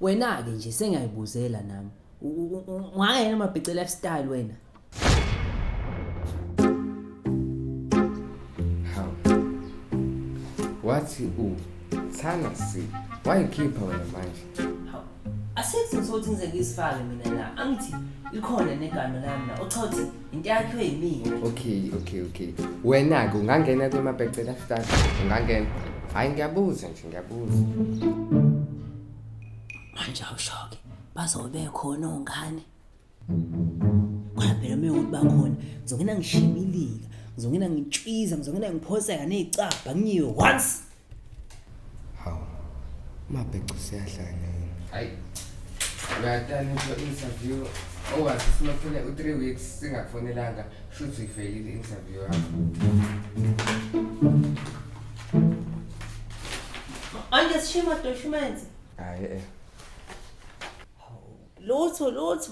Wena-ke nje sengiyayibuzela nami. Ungayena amabhice lifestyle wena. How? Wathi u thana si wayikhipha wena manje. Asikho sokuthi ngize ngizifake mina la. Angithi likhona negama lami la. Uchathi into yakhiwe yimina okay okay okay wena-ke ungangena kwemabecela start ungangena hhayi ngiyabuza nje ngiyabuza manje awushoke bazobe khona ongane khona phela uma yokuthi bakhona ngizongena ngishibilika ngizongena ngitshwiza ngizongena ngiphoseka ney'cabha ngiyiwe once Hawu. Mabheca siyahlanya yini? Hayi. Uyatana into interview owazi sinophele u3 weeks singafonelanga shuthi ivelile interview yakho. Anje sishima documenzi. Hayi eh. Lutho lutho.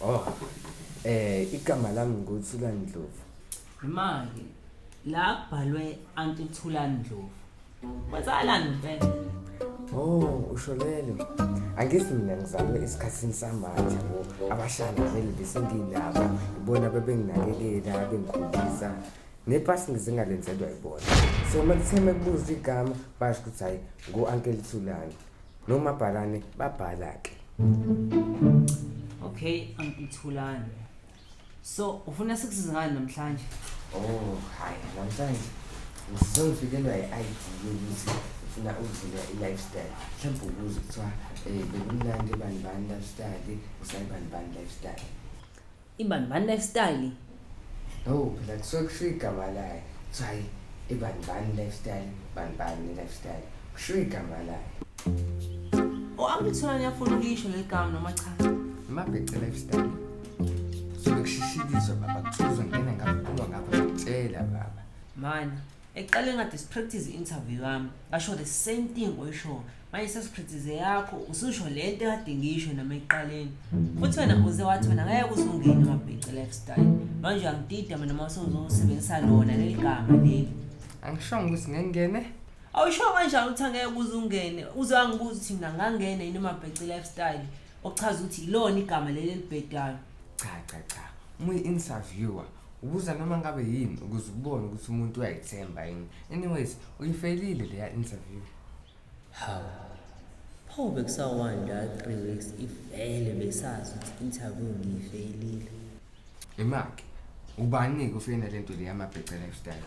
Oh. Eh igama lami nguthula Ndlovu. Manje la kubhalwe anti Thula Ndlovu. Kwenzalani mfethu? Oh, usho lelo. Angithi mina ngizalwe esikhathini samanje bo. Abashana vele besenginabo. Ibona bebenginakekela, bengikhulisa. Nepasi ngizingalenzelwa ibona. So uma kutheme kubuza igama basho ukuthi hayi ngo-uncle Thulani. nomabhalane babhala ke okay angithulani so ufuna sikusize ngani namhlanje oh hayi namhlanje ngizongifikelwa i-id yokuthi ufuna ukudlula i-lifestyle mhlawumbe ukuze kuthiwa um bekumnandi ebani bani lifestyle usayibani bani lifestyle Ibani bani lifestyle. Oh, phela kusuke kushiwo igama layo. Kuthiwa hayi ibani bani lifestyle, bani bani lifestyle. Kushiwo igama layo. O angithula niyafuna ukuyisho leli gama noma cha. Amabhece lifestyle. Kusuke kushishikiswa baba kuthiwa uzongena ngaphuma ngapha ngitshela baba. Mana. eqale ngadispractice i-interview yami ngasho the same thing oyishoyo manje sesipractice yakho ususho le nto ekade ngiyisho noma ekuqaleni futhi wena uze wathi wena ngeke uzungeni amabhici lifestyle manje uyangidida mina uma usuzosebenzisa lona leli gama leli angishongo ukuthi ngengene awusho kanjani ukuthi angeke kuze ungene uze wangibuza ukuthi mina ngangene yini amabhici lifestyle okuchaza ukuthi yilona igama leli elibhedayo cha cha cha uma uyi-interviewer ubuza noma ngabe yini ukuze ukubone ukuthi umuntu uyayithemba yini anyways uyifelile leya interview hawu pho bekusawanda three weeks ivele besazi ukuthi interview ngiyifeyilile imaki ubani-ke ufeyina le nto le yamabhece lifestyle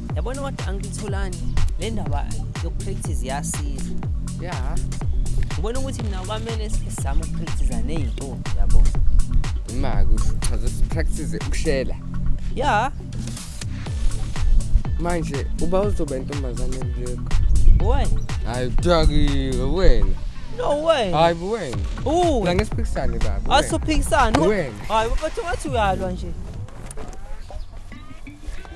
yabona kodwa angilitholani le ndaba yokupractice yasiza ya ngibona ukuthi mina kwamele sizame ukupractice ney'ntombi yabo ma kuchaza sipractice ukushela ya manje uba uzoba intombazane kuleko boy hayi kudakile wena no way hayi buwena u la ngesiphikisane baba asuphikisana Wena. hayi bathi wathi uyalwa nje